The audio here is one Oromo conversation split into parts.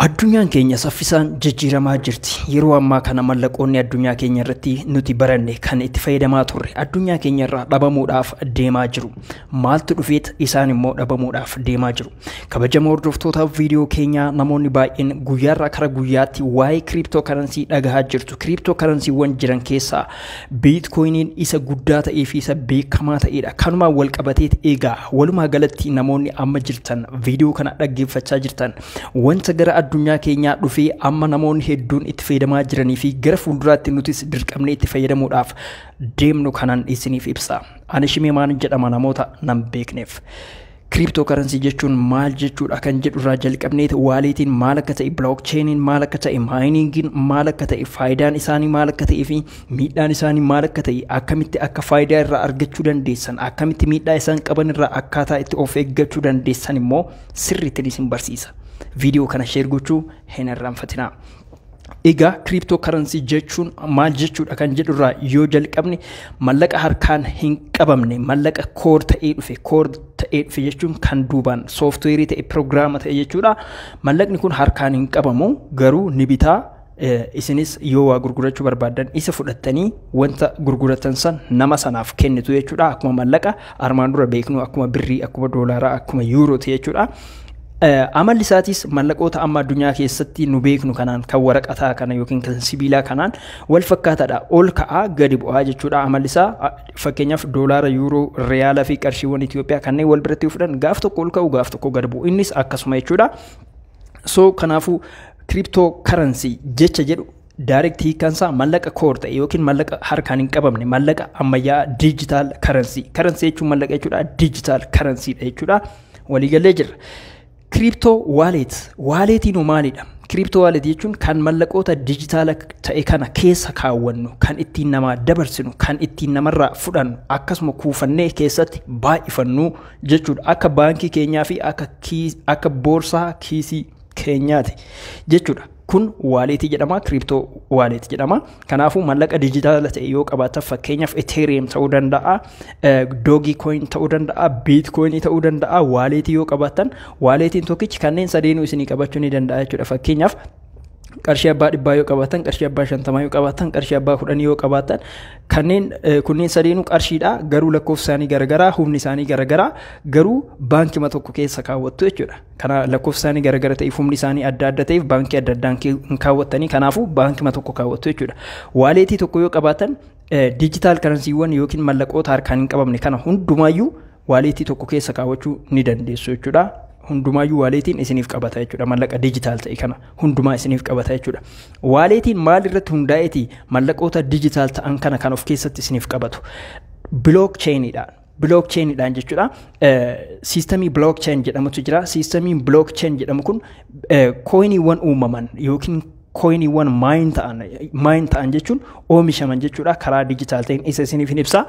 Addunyaan keenya saffisaan jijjiiramaa jirti. Yeroo ammaa kana mallaqoonni addunyaa keenya irratti nuti baranne kan itti fayyadamaa turre addunyaa keenya irraa dhabamuudhaaf deemaa jiru. Maaltu dhufeet isaan immoo dhabamuudhaaf deemaa jiru. Kabajamoo hordoftoota viidiyoo keenyaa namoonni baay'een guyyaarraa kara guyyaatti waa'ee kiriiptoo karansii dhagahaa jirtu. Kiriiptoo karansiiwwan jiran keessaa biitkoyiniin isa guddaa ta'ee fi isa beekamaa ta'edha. Kanumaan wal qabateet egaa walumaa galatti namoonni amma jirtan viidiyoo kana dhaggeeffachaa jirtan Wanta gara addunyaa keenyaa dhufee amma namoonni hedduun itti fayyadamaa jiranii fi gara fuulduraatti nutis dirqamnee itti fayyadamuudhaaf deemnu kanan isiniif ibsa. Ani Shimemaan jedhama namoota nan beekneef. Kiriiptoo karansii jechuun maal jechuudha kan jedhu irraa jalqabneet waaleetiin maal akka ta'e bilookcheeniin maal akka ta'e maayiniingiin maal akka ta'e faayidaan isaanii maal akka ta'ee fi miidhaan isaanii maal akka ta'e akkamitti akka faayidaa irraa argachuu dandeessan akkamitti miidhaa isaan qaban irraa akkaataa itti of eeggachuu dandeessan immoo sirriittiin isin barsiisa. Viidiyoo kana sheer gochuu hin irraanfatinaa. Egaa kiriptoo karansii jechuun maal jechuudha kan jedhurraa yoo jalqabne mallaqa harkaan hin qabamne mallaqa koor ta'ee dhufe koor ta'ee dhufe jechuun kan duubaan sooftiweerii ta'e piroogiraama ta'e jechuudha. Mallaqni kun harkaan hin qabamu garuu ni bitaa isinis yoo waa gurgurachuu barbaaddan isa fudhattanii wanta gurguratan san nama sanaaf kennitu jechuudha akkuma mallaqa armaan dura beeknu akkuma birrii akkuma doolaaraa akkuma yuurooti jechuudha. Amalli isaatis mallaqoota amma addunyaa keessatti nu beeknu kanaan kan waraqataa kana yookiin kan sibiilaa kanaan wal fakkaataadha ol ka'aa gadi bu'aa jechuudha amalli isaa fakkeenyaaf doolaara yuuroo riyaalaa fi qarshiiwwan Itoophiyaa kanneen wal biratti fudhan gaaf tokko ol ka'u gaaf tokko gadi bu'u innis akkasuma jechuudha. so kanaafuu kiriptoo karansii jecha jedhu daayirekti hiikaan isaa mallaqa koor ta'e yookiin mallaqa harkaan hin qabamne mallaqa ammayyaa diijitaal karansii karansii jechuun mallaqa jechuudha diijitaal karansiidha jechuudha waliigalee jirra. Kiriptoo waaleet waaleetiin hoo maalidha? Kiriptoo waaleet jechuun kan mallaqoota diijitaala ta'e kana keessa kaawwannu kan ittiin namaa dabarsinu kan ittiin namarraa fudhannu akkasuma kuufannee keessatti baay'ifannu jechuudha. Akka baankii keenyaa fi akka, kiis, akka boorsaa kiisii keenyaati jechuudha. Kun waaleetii jedhama, kiriptoo waaleetii jedhama. Kanaafuu mallaqa dijitaala ta'e yoo qabaatan fakkeenyaaf Ethereum ta'uu danda'a, Dogi coin ta'uu danda'a, Bitcoin ta'uu danda'a. Waaleetii yoo qabaatan waaleetiin tokkichi kanneen sadeenuu isinii qabachuu ni danda'a jechuudha. Fakkeenyaaf qarshii abbaa dhibbaa yoo qabaatan qarshii abbaa shantamaa yoo qabaatan qarshii abbaa kudhanii yoo qabaatan kanneen kunneen sadeenuu qarshiidha garuu lakkoofsi isaanii garagaraa humni isaanii garagaraa garuu baankima tokko keessa kaawwattu jechuudha kana lakkoofsi isaanii garagara ta'eef humni isaanii adda adda ta'eef baankii adda addaan hin kaawwattanii kanaafuu baankima tokko kaawwattu jechuudha waaleetii tokko yoo qabaatan diijitaal karansiiwwan yookiin mallaqoota harkaan hin qabamne kana hundumaayyuu waaleetii tokko keessa kaawwachuu ni dandeessu jechuudha. Hundumaayyuu waaleetiin isiniif qabata jechuudha. Mallaqa dijitaal ta'e kana hundumaa isiniif qabata jechuudha. Waaleetiin maal irratti hundaa'eeti mallaqoota dijitaal ta'an kana kan of keessatti isiniif qabatu. Bilook cheeniidhaan. Bilook cheeniidhaan jechuudha. Siistamii bilook cheen jedhamutu jira. Siistamiin bilook cheen jedhamu kun kooyiniiwwan uumaman yookiin kooyiniiwwan maayin ta'an maayin ta'an jechuun oomishaman jechuudha. Karaa dijitaal ta'een isa isiniif hin ibsa.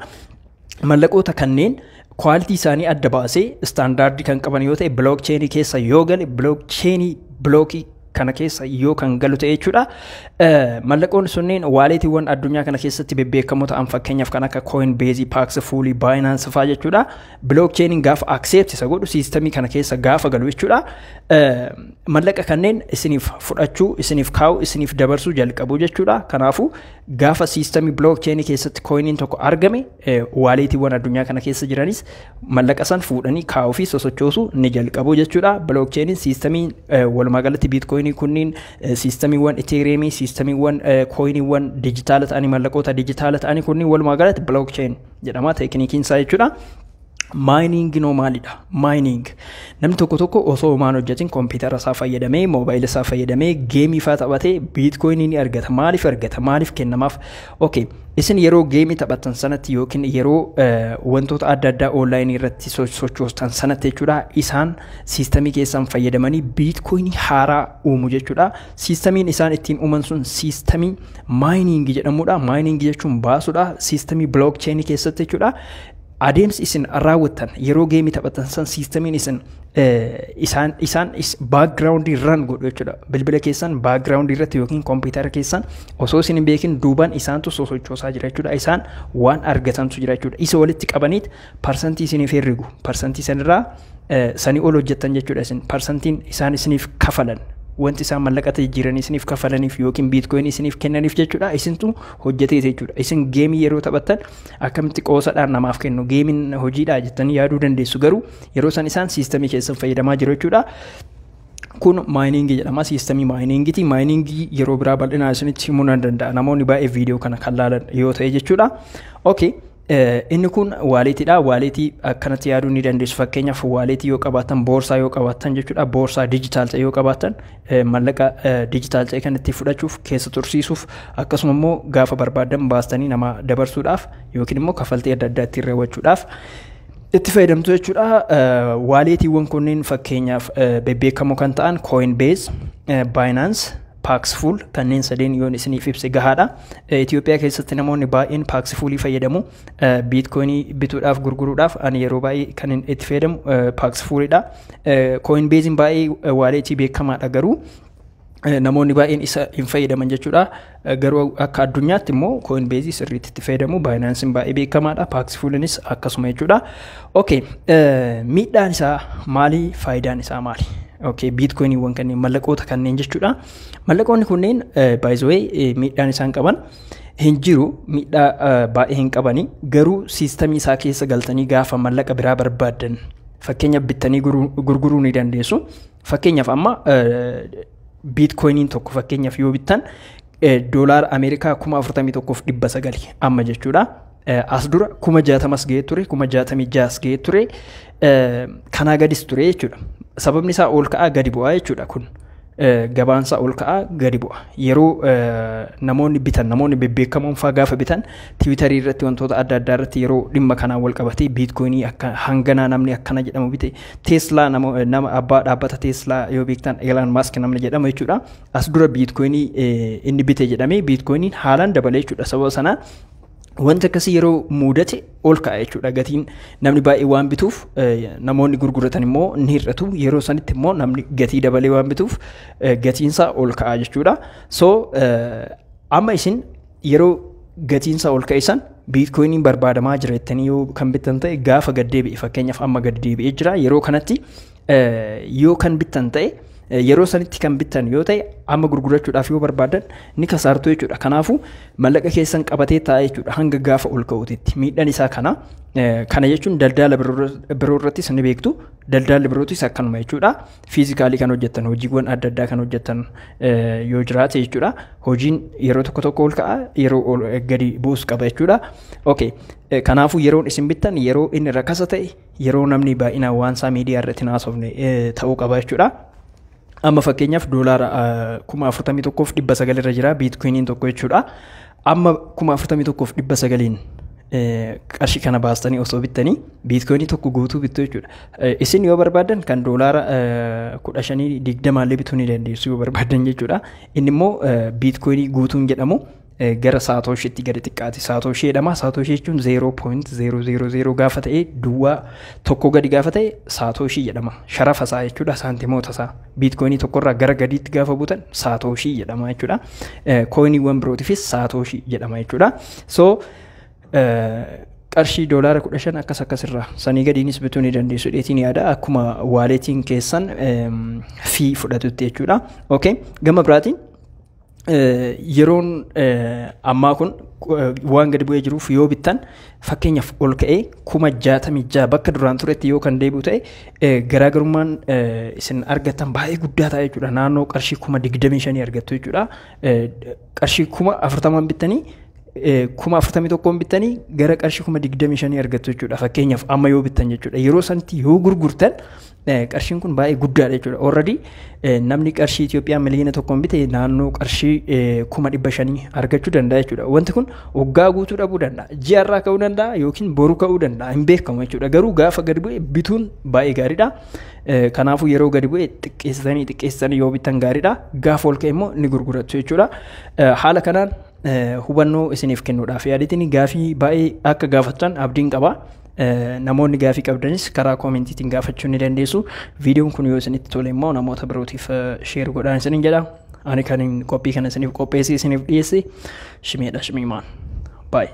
mallaqoota kanneen kwaaltii isaanii adda baasee istaandaardii kan qaban yoo ta'e bilook cheenii keessa yoo gale bilook cheenii bilookii kana keessa yoo kan galu ta'e jechuudha. Mallaqoon sunneen waaleetiiwwan addunyaa kana keessatti bebbeekamoo ta'an fakkeenyaaf kan akka Coinbase, Pax, Fully, Binance fa'aa jechuudha. Bilook cheeniin gaafa accept isa godhu siistamii kana keessa gaafa galu jechuudha. Mallaqa kanneen isiniif fudhachuu, isiniif kaa'u, isiniif dabarsuu jalqabu jechuudha. Kanaafuu Gaafa siistamii blockchain keessatti kooyiniin tokko argame waaleetiiwwan addunyaa kana keessa jiranis mallaqa san fuudhanii kaa'uu fi sosochoosu ni jalqabu jechuudha. Blockchainin siistamii walumaa galatti biitkooyinii kunniin siistamiiwwan iteeriyeemii siistamiiwwan kooyiniiwwan dijitaala ta'anii mallaqoota dijitaala ta'anii kunniin walumaa galatti blockchain jedhama teekinikiin isaa jechuudha. Maayiniingi noo maalidha? Maayiniing namni tokko tokko osoo homaan hojjetin kompiitara isaa fayyadamee moobaayila isaa fayyadamee geemii faa taphatee biitkoyinii ni argata. Maaliif argata? Maaliif kennamaaf? Okay. Isin yeroo geemii taphattan sanatti yookiin yeroo wantoota adda addaa oonlaayinii irratti sochoostan sanatti jechuudha isaan siistamii keessan fayyadamanii biitkoyinii haaraa uumu jechuudha. Siistamiin isaan ittiin uuman sun siistamii maayiniingi jedhamudha. Maayiniingi jechuun baasudha. Siistamii bilookcheenii keessatti jechuudha. adeemsi isin raawwattan yeroo geemii taphatan san siistamiin isin isaan isaan baakgiraawundii ran godhu jechuudha. Bilbila keessan baakgiraawundii irratti yookiin kompiitara keessan osoo isin hin beekin duubaan isaantu sosochoosaa jira jechuudha. Isaan waan argatantu jira jechuudha. Isa walitti qabaniit parsantii isiniif herregu. Parsantii sanirraa sanii ol hojjettan jechuudha isin. Parsantiin isaan isiniif kafalan wanti isaan mallaqatti jijjiiranii isiniif kafalaniif yookiin biitkoyin isiniif kennaniif jechuudha isintu hojjeteeti jechuudha isin geemii yeroo taphattan Akkamitti qoosadhaan namaaf kennu geemiin hojiidhaa jettanii yaaduu dandeessu garuu yeroo san isaan siistamii keessan fayyadamaa jiru jechuudha. kun maayiniingii jedhama siistamii maayiniingiiti maayiniingii yeroo biraa bal'inaa isinitti himuu nan danda'a namoonni baay'ee viidiyoo kana kan laalan yoo ta'e jechuudha okay inni kun waaleetiidha waaleetii akkanatti yaaduu ni dandeessu fakkeenyaaf waaleetii yoo qabaatan boorsaa yoo qabaatan jechuudha boorsaa dijitaal ta'e yoo qabaatan mallaqa diijitaal ta'e kan ittiin fudhachuuf keessa tursiisuuf akkasuma immoo gaafa barbaadan baastanii namaa dabarsuudhaaf yookiin immoo kaffaltii adda addaa ittiin raawwachuudhaaf itti fayyadamtu jechuudha. Waaleetiiwwan kunneen fakkeenyaaf bebbeekamoo kan ta'an Coinbase, Binance, Paxful kanneen sadeen yoon isiniif ibse gahaadha. Itoophiyaa keessatti namoonni baay'een Paxfulii fayyadamu. biitkoinii bituudhaaf gurguruudhaaf ani yeroo baay'ee kan itti fayyadamu paaksfuuridha. Kooinbeeziin baay'ee waaleetii beekamaadha garuu namoonni baay'een isa hin fayyadaman jechuudha. Garuu akka addunyaatti immoo kooinbeezii sirriitti itti fayyadamu baayinaansiin baay'ee beekamaadha paaksfuulinis akkasuma jechuudha. Okay, miidhaan isaa maali faayidaan isaa maali? Okay, biitkoiniiwwan kanneen mallaqoota kanneen jechuudha. Mallaqoonni kunneen baay'ee miidhaan isaan qaban. hin jiru miidhaa eh, baay'ee hin qabani garuu siistamii isaa keessa galtanii gaafa mallaqa biraa barbaaddan fakkeenya bittanii guru- gurguruu ni dandeessu fakkeenyaaf amma eh, biitkoyiniin tokko fakkeenyaaf yoo bittan eh, doolaara ameerikaa kuma afurtamii tokkoof dhibba sagali amma jechuudha As dura kuma jaatamas ga'ee ture, kuma jaatamii jaas ga'ee ture, kanaa gadis ture jechuudha. Sababni isaa ol ka'aa gadi bu'aa jechuudha kun. Gabaan isaa ol ka'aa gadi bu'a. Yeroo namoonni bitan, namoonni bebbeekamoon fa'aa gaafa bitan, tiwiitarii irratti wantoota adda addaa irratti yeroo dhimma kanaan wal qabatee biitkoinii akka hanganaa namni akkana jedhamu bite, teeslaa nama abbaa dhaabbata teeslaa yoo beektan Eelaan Maask namni jedhamu jechuudha. As dura biitkoinii inni bite jedhamee biitkoiniin haalaan dabale jechuudha sababa sanaa. Wanti akkasii yeroo muudate ol ka'a jechuudha gatiin namni baay'ee waan bituuf namoonni gurguratan immoo ni hir'atu yeroo sanitti immoo namni gatii dabalee waan bituuf gatiinsaa ol ka'a jechuudha. So amma isin yeroo gatiinsaa ol ka'e san biitkoiniin barbaadamaa jira jettanii yoo kan bittan ta'e gaafa gad deebi'e fakkeenyaaf amma gad deebi'ee jira yeroo kanatti yoo kan bittan ta'e yeroo sanitti kan bittan yoo ta'e amma gurgurachuudhaaf yoo barbaadan ni kasaartu jechuudha. Kanaafuu mallaqa keessan qabatee taa'ee jechuudha hanga gaafa ol ka'uutitti miidhaan isaa kana. Kana jechuun daldala biroo irrattis ni beektu daldalli birootis akkanuma jechuudha. Fiizikaalii kan hojjettan hojiiwwan adda addaa kan hojjettan yoo jiraate jechuudha. Hojiin yeroo tokko tokko ol ka'a yeroo gadi bu'us qaba jechuudha. Kanaafuu yeroon isin bittan yeroo inni rakasa ta'e yeroo namni baay'inaan waan isaa miidiyaa irratti hin haasofne eh, ta'uu qaba jechuudha. Amma fakkeenyaaf doolaara eh, kuma afurtamii tokkoof dhibba sagal irra jira biitkuiniin tokko jechuudha. Amma kuma afurtamii tokkoof dhibba sagaliin eh, qarshii kana baastanii osoo bittanii biitkuinii tokko guutuu bittu jechuudha. Eh, Isin yoo barbaadan kan doolaara eh, kudha shanii digdamaallee bituu ni dandeessu yoo barbaadan jechuudha. Inni immoo eh, biitkuinii guutuun jedhamu gara saatooshiitti gadi xiqqaate saatooshii jedhama saatooshii jechuun 0.000 gaafa ta'e duwwaa tokko gadi gaafa ta'e saatooshii jedhama sharafa isaa jechuudha saantimoota isaa biitkoinii tokkorraa gara gadiitti gaafa butan saatooshii jedhama jechuudha kooyiniiwwan birootiifis saatooshii jedhama jechuudha so qarshii doolaara 15 akkas akkasirraa sanii gadiinis bituu ni dandeessu dheetiin yaada akkuma waaleetiin keessan fi fudhatutti jechuudha okay gama biraatiin yeroon ammaa kun waan gadi bu'ee jiruuf yoo bittan fakkeenyaaf ol ka'ee kuma jaatamii ja'a bakka duraan turetti yoo kan deebi'u ta'e garaagarummaan isin argattan baay'ee guddaa ta'a jechuudha naannoo qarshii kuma digdamii shanii argattu jechuudha qarshii kuma afurtamaan bittanii kuma afurtamii tokkoon bittanii gara qarshii kuma digdamii shanii argattu jechuudha fakkeenyaaf amma yoo bittan jechuudha yeroo sanatti yoo gurgurtan Qarshiin kun baay'ee guddaadha jechuudha. Already namni qarshii Itoophiyaa miliyoona tokkoon bite naannoo qarshii kuma dhibba shanii argachuu danda'a jechuudha. Wanti kun waggaa guutuu dhabuu danda'a. Ji'a irraa ka'uu danda'a yookiin boru ka'uu danda'a hin beekamu jechuudha. Garuu gaafa gadi bu'e bituun baay'ee gaariidha. Kanaafuu yeroo gadi bu'e xiqqeessitanii xiqqeessitanii yoo bitan gaariidha. Gaafa ol ka'e immoo ni gurgurattu jechuudha. Haala kanaan hubannoo isiniif kennuudhaaf yaaditini gaafii baay'ee akka gaafattan abdiin qaba. Namoonni gaafii qabdanis karaa koomentiitiin gaafachuu ni dandeessu. Viidiyoon kun yoo isinitti tole immoo namoota birootiif sheer godhaan isiniin jedha. Ani kan qophii kana isiniif qopheessee isiniif dhiyeesse shimeedha shimiimaan. Baay'ee.